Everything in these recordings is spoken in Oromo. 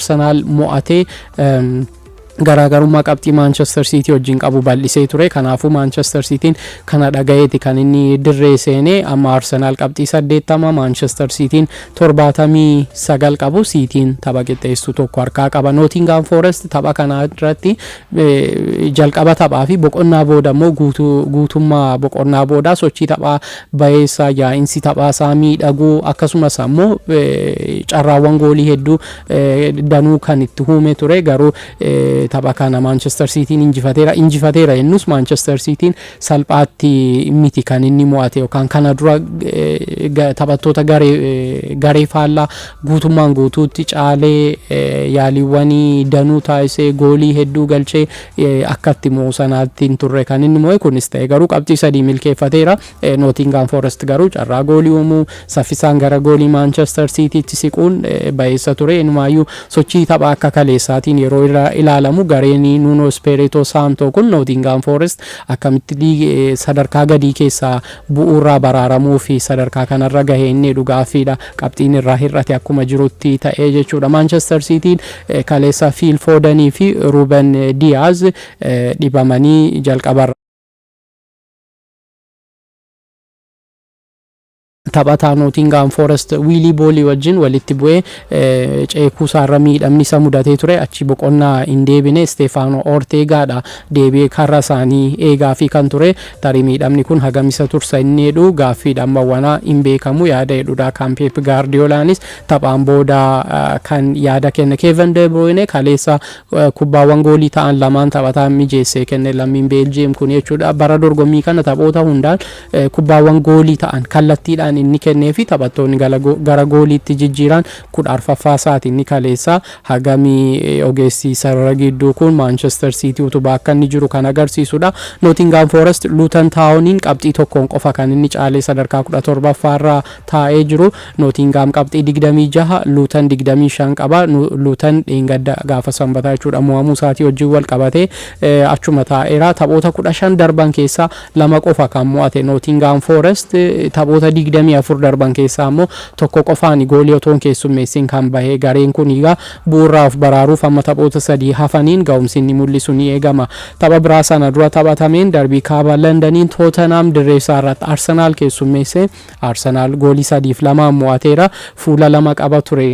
Arsenaal mo'atee garaagarummaa qabxii Maanchester Siitii wajjin qabu bal'isee ture. Kanaafuu Maanchester Siitiin kana dhagayeeti kan inni dirree seene. Amma Arsenaal qabxii 80, Maanchester Siitiin 79 qabu. Siitiin tapha qixxeessu tokko harkaa qaba. Nootingaam Foorest tapha kana irratti jalqaba taphaa fi boqonnaa booda immoo guutummaa boqonnaa booda sochii taphaa bayeessaa yaa'insi taphaa isaa miidhaguu akkasumas ammoo carraawwan goolii hedduu danuu kan itti huumee ture garuu tapha kana Maanchestar Siitiin injifateera. Injifateera jennus Maanchestar Siitiin salphaatti miti kan inni mo'ate yookaan kana dura taphattoota garee faallaa guutummaan guutuutti caalee yaaliiwwanii danuu taasisee goolii hedduu galchee akka itti mo'u sanaatti hin turre kan inni mo'e kunis ta'e garuu qabxii sadii milkeeffateera. Nootingaam Foorest garuu carraa goolii uumuu saffisaan gara goolii Maanchestar Siitiitti siquun bayeessa ture. Inumaayyuu sochii taphaa akka kaleessaatiin yeroo ilaalamu gareen Nuunoo Ispeeritoo Saantoo kun Nootingaam Foorest akkamitti liigii sadarkaa gadii keessaa bu'uurraa baraaramuu fi sadarkaa kanarra gahee inni jedhu gaaffiidha. Qabxiin irraa hir'ate akkuma jirutti ta'ee jechuudha. Maanchestar Siitiin kaleessa Fiil Foodanii fi Ruuben Diyaaz dhibamanii jalqabarra. Taphataa Nootingaam Foorest Wiilii Boolii wajjin walitti bu'ee ceekuu isaarra miidhamni isa mudatee ture achi boqonnaa hin deebine Isteefaanoo Orteegaadha deebi'ee karra isaanii eegaa fi kan ture tarii miidhamni kun hagam isa tursa inni jedhu gaaffiidha amma wanaa hin beekamu yaada jedhudha kan Peep Gaardiyoolaanis taphaan booda kan yaada kenne Keevan Deebruuyne kaleessa Kubbaawwan goolii ta'an lamaan taphataan mijeessee kenne lammiin Beeljiyeem kun jechuudha. Bara dorgommii kana taphoota hundaan kubbaawwan goolii ta'an kallattiidhaan inni kennee fi taphattoonni gara gooliitti jijjiiran kudha arfaffaa isaati inni kaleessaa. Hagami ogeessi sarara gidduu kun Maanchester Siitii utubaa akka inni jiru kan agarsiisudha. Nootingaam Foorest Luutan Taawoniin qabxii tokkoon qofa kan inni caalee sadarkaa kudha torbaffaarra taa'ee jiru. Nootiingaam qabxii 26, Luutan 25 qaba. Luutan dheengadda gaafa Sanbataa jechuudha mo'amuu isaatii wajjin wal qabatee achuma taa'eera. Taphoota 15 darban keessaa lama qofa kan mo'ate Nootiingaam Foorest taphoota 24 darban keessaa immoo tokko qofaan goolii otoo hin keessummeessin kan bahe gareen kun egaa bu'uuraa of baraaruuf amma taphoota sadii hafaniin ga'umsi inni mul'isu ni eegama. Tapha biraa sana dura taphatameen darbii kaaba Landaniin Tootenaam dirree isaa irratti Arsenaal keessummeessee Arsenaal goolii sadiif lamaan mo'ateera. Fuula lama qaba ture.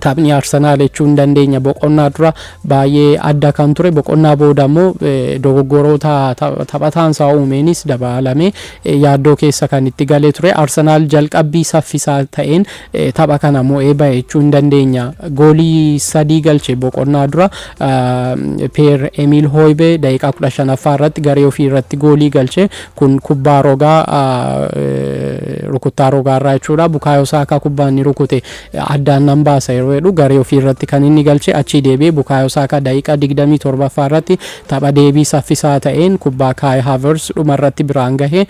taphni Arsenaal jechuu hin dandeenya boqonnaa dura baay'ee adda kan ture boqonnaa booda immoo dogoggoroota taphataan isaa uumeenis dabalame yaaddoo keessa kan itti galee ture Arsenaal jalqabbii saffisaa ta'een tapha kana mo'ee ba'e jechuu hin dandeenya goolii sadii galche boqonnaa dura Peer Emiil Hooybee daqiiqaa kudha shanaffaa irratti garee ofii irratti goolii galche Kun kubbaa rogaa rukuttaa rogaa irraa jechuudha. Bukaayoo Saakaa kubbaa inni rukute addaan nan baasa yeroo jedhu garee ofii irratti kan inni galche achii deebi'ee Bukaayoo Saakaa daqiiqaa 27ffaa irratti tapha deebii saffisaa ta'een kubbaa Kaay Haavers dhuma irratti biraan gahe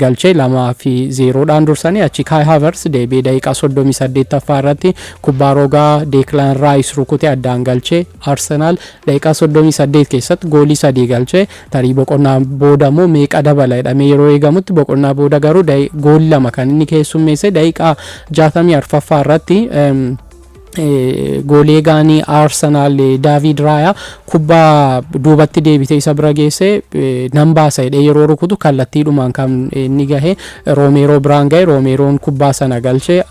galche 2 fi 0 dhaan dursanii achi Kaay Haavers deebi'ee daqiiqaa 38ffaa irratti kubbaa rogaa Deeklaan Raayis rukute addaan galche Arsenaal daqiiqaa 38 keessatti goolii sadii galche Tarii boqonnaa booda immoo meeqa dabala jedhamee yeroo eegamutti boqonnaa booda garuu gool lama kan inni keessummeesse daqiiqaa 64ffaa irratti goolee gaanii Arsenaal Daavid Raayaa kubbaa duubatti deebitee isa bira geesse nan baasa jedhee yeroo rukutu kallattiidhumaan kan inni gahe Roomeeroo biraan gahe Roomeeroon kubbaa sana galche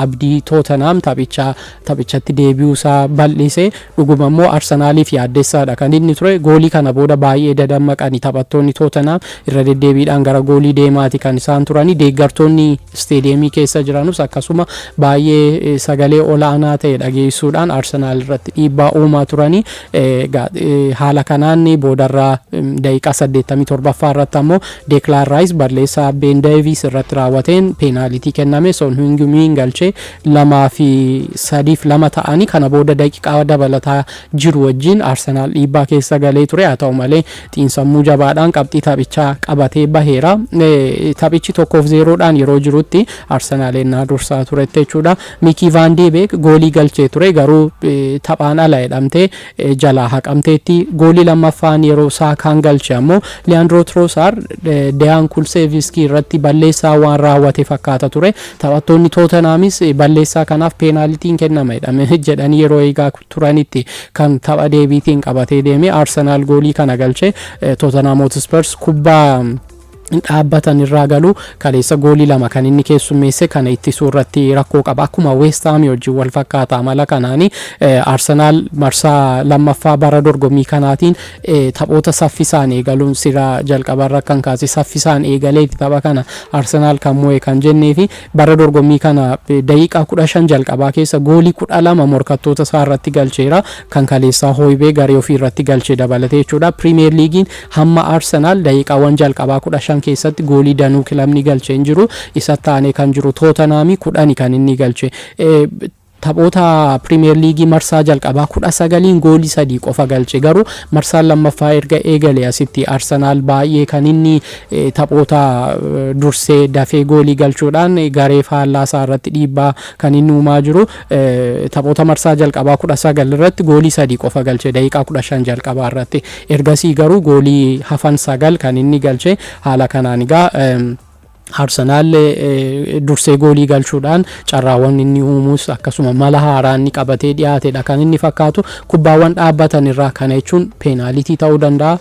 abdii Tootenaam taphichaa taphichatti deebi'uu isaa bal'ise. Dhuguma immoo Arsenaaliif yaaddessaadha kan inni ture. Goolii kana booda baay'ee dadammaqani taphattoonni Tootenhaam irra deddeebiidhaan gara goolii deemaati kan isaan turani. Deeggartoonni isteediyeemii keessa jiranus akkasuma baay'ee sagalee olaanaa ta'e dhageessuudhaan Arsenaal irratti dhiibbaa uumaa turani. Haala kanaan boodarra daqiiqaa 87ffaa irratti ammoo Deeklaan Raayis balleessaa Been Deeviis irratti raawwateen peenaalitii kenname Soon Hiyung Miin galchee 2 fi 3 fi 2 ta'ani kana booda daqiqaa dabalataa jiru wajjin Arsenaal dhiibbaa keessa galee ture haa ta'u malee xiinsammuu jabaadhaan qabxii taphichaa qabatee baheera taphichi 1 fi 0 dhaan yeroo jirutti Arsenaal ennaa dursaa turetti jechuudha Mikii Vaandee Beek goolii galchee ture garuu taphaan ala jedhamtee jalaa haqamteetti. Goolii lammaffaan yeroo Saakaan galche ammoo Liyaandroo Tiroosaar Deyaan Kulseeviskii irratti balleessaa waan raawwate fakkaata ture. Taphattoonni Tootenhaamis balleessaa kanaaf peenaalitiin kennama jedhanii yeroo eegaa turanitti kan tapha deebiitiin qabatee deeme. Arsenaal goolii kana galche. Tootenhaam Hotspurs kubbaa dhaabbatan irraa galu kaleessa goolii lama kan inni keessummeesse kana ittisuu irratti rakkoo qaba akkuma weestaamii wajjin wal fakkaata amala kanaani arsenaal marsaa lammaffaa bara dorgommii kanaatiin taphoota saffisaan eegaluun sira jalqabarra kan kaase saffisaan eegalee tapha kana arsenaal kan mo'e kan jennee fi bara dorgommii kana daqiiqaa kudha shan jalqabaa keessa goolii kudha lama morkattoota isaa irratti galcheera kan kaleessaa hooybee garee ofii irratti galche dabalatee jechuudha piriimeer liigiin Hamma Arsenaal daqiiqaawwan jalqabaa 15 keessatti goolii danuu kilabni galche hin jiru. Isatti aanee kan jiru Tootanhaami 10 kan inni galche. Taphoota Piriimeer Liigii marsaa jalqabaa 19n goolii sadii qofa galche. Garuu marsaan lammaffaa erga eegale asitti Arsenaal baay'ee kan inni taphoota dursee dafee goolii galchuudhaan garee faallaa isaa irratti dhiibbaa kan inni uumaa jiru. Taphoota marsaa jalqabaa 19 irratti goolii sadii qofa galche daqiiqaa 15 jalqabaa irratti. Ergasii garuu goolii hafan sagal kan inni galche haala kanaan egaa Arsenaal dursee goolii galchuudhaan carraawwan inni uumuus akkasuma mala haaraa inni qabatee dhiyaatedha kan inni fakkaatu kubbaawwan dhaabbatan irraa kana jechuun peenaalitii ta'uu danda'a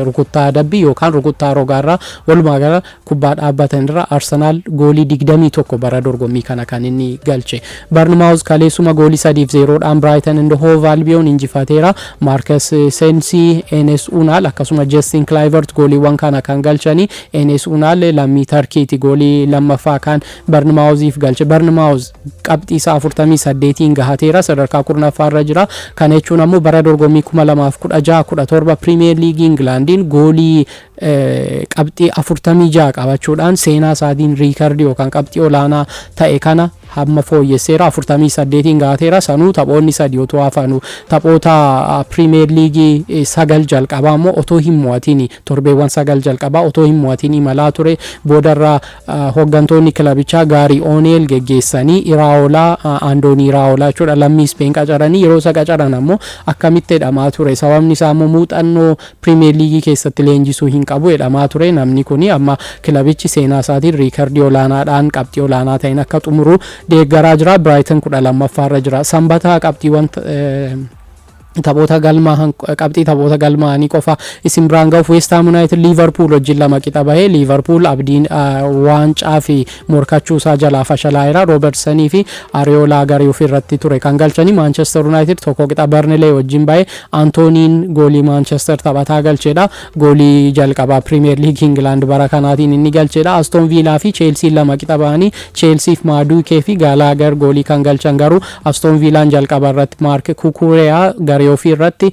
rukuttaa adabbii yookaan rukuttaa rogaarraa walumaa gala Kubbaa dhaabbatan irra Arsenaal goolii 21 bara dorgommii kana kan inni galche. Barnmaawuz kaleessuma goolii 3f 0 dhaan Brighton and Hove Albion injifateera. Marcus Sensi, Enes Unal akkasuma Justin Kluivert gooliiwwan kana kan galchani. Enes Unal lammii Tarkiiti goolii lammaffaa kan Barnmaawuziif galche. Barnmaawuz qabxii isaa 48n gahateera sadarkaa 10ffaa irra jira. Kana jechuun ammoo bara dorgommii 2016, 17 Piriimiyeer Liigii Ingilaandiin goolii qabxii 46 qabachuudhaan seenaa isaatiin riikardii yookaan qabxii olaanaa ta'e kana hamma fooyyesseera 48n gaateera sanuu taphoonni sadii otoo hafanuu taphoota piriimeer liigii sagal jalqabaa immoo otoo hin mo'atiin torbeewwan sagal jalqabaa otoo hin mo'atiin imalaa ture boodarra hooggantoonni kilabichaa gaarii ooneel geggeessanii iraawolaa aandoonii iraawolaa jechuudha lammii ispeen qacaranii yeroo isa qacaran ammoo akkamitti jedhamaa ture sababni isaa immoo muuxannoo Piriimiyeer Liigii keessatti leenjisuu hin qabu jedhamaa ture. Namni kun amma kilabichi seenaa isaatiin riikardii olaanaadhaan qabxii olaanaa ta'een akka xumuru deeggaraa jira. Biraayitan 12ffaa irra jira. Sanbata qabxiiwwan taphoota galmaa qabxii taphoota galmaa'anii qofa isin biraan ga'uuf Weestaam Yuunaayitid Liivarpuul wajjin lama qixa bahee Liivarpuul abdiin waancaa fi Morkachuu isaa jalaa fashalaa'eera. Roobertsanii fi Ariyoolaa garee ofii irratti ture kan galchani. Maanchester Yunaayitid tokko qixa Barnilee wajjin bahe. Antooniin goolii Maanchester taphataa galchedha. Goolii jalqabaa Piriimeer Liigii Ingilaand bara kanaatiin inni galchedha. Astoon Viilaa fi Cheelsiin lama qixa bahanii Cheelsiif Maaduukee fi Gaalaagar goolii kan galchan garuu Astoon Viilaan jalqaba irratti Maark Kukureyaa garee ofii irratti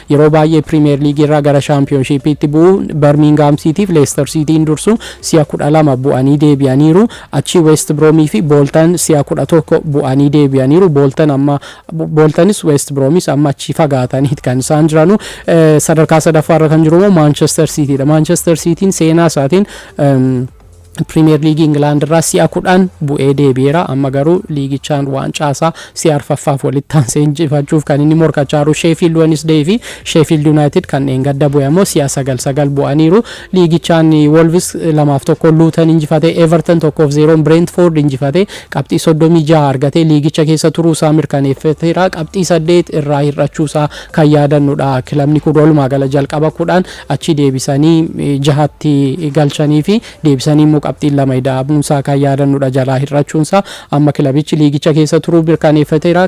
Yeroo baay'ee Piriimeer Liigiirraa gara Shaampiyoonshiippiitti bu'u. Barmiingaam Siitiif Leestar Siitiin dursu si'a 12 bu'anii deebi'aniiru. Achii Weest Biroomiifi Booltan si'a 11 bu'anii deebi'aniiru. Booltan amma Booltanis Weest Biroomis amma achii fagaataniit kan isaan jiranu. Sadarkaa sadaffaarra kan jirumoo Maanchester Siitiidha. Maanchester Siitiin seenaa isaatiin Piriimeer Liigii Ingilaand irraa si'a kudhan bu'ee deebi'eera. Amma garuu liigichaan waancaa isaa si'a arfaffaaf walitti aansee injifachuuf kan inni morkachaa jiru Sheefiild Wenisdeey fi Sheefiild Yuunaayitid kan dheengadda bu'e ammoo si'a sagal sagal bu'aniiru. Liigichaan Wolvis lamaaf tokkoon Luutan injifate, Everton tokkoof zeeroon Bireentfoord injifate, qabxii soddomii ja'a argatee liigicha keessa turuu isaa mirkaneeffateera. Qabxii saddeet irraa hir'achuu isaa kan yaadannudha. Kilabni kun walumaa gala jalqaba kudhan achii deebisanii jahatti galchanii fi deebisanii immoo qabxiin lama ida'amuun isaa kan yaadannudha jalaa hir'achuun isaa amma kilabichi liigicha keessa turuu mirkaneeffateera.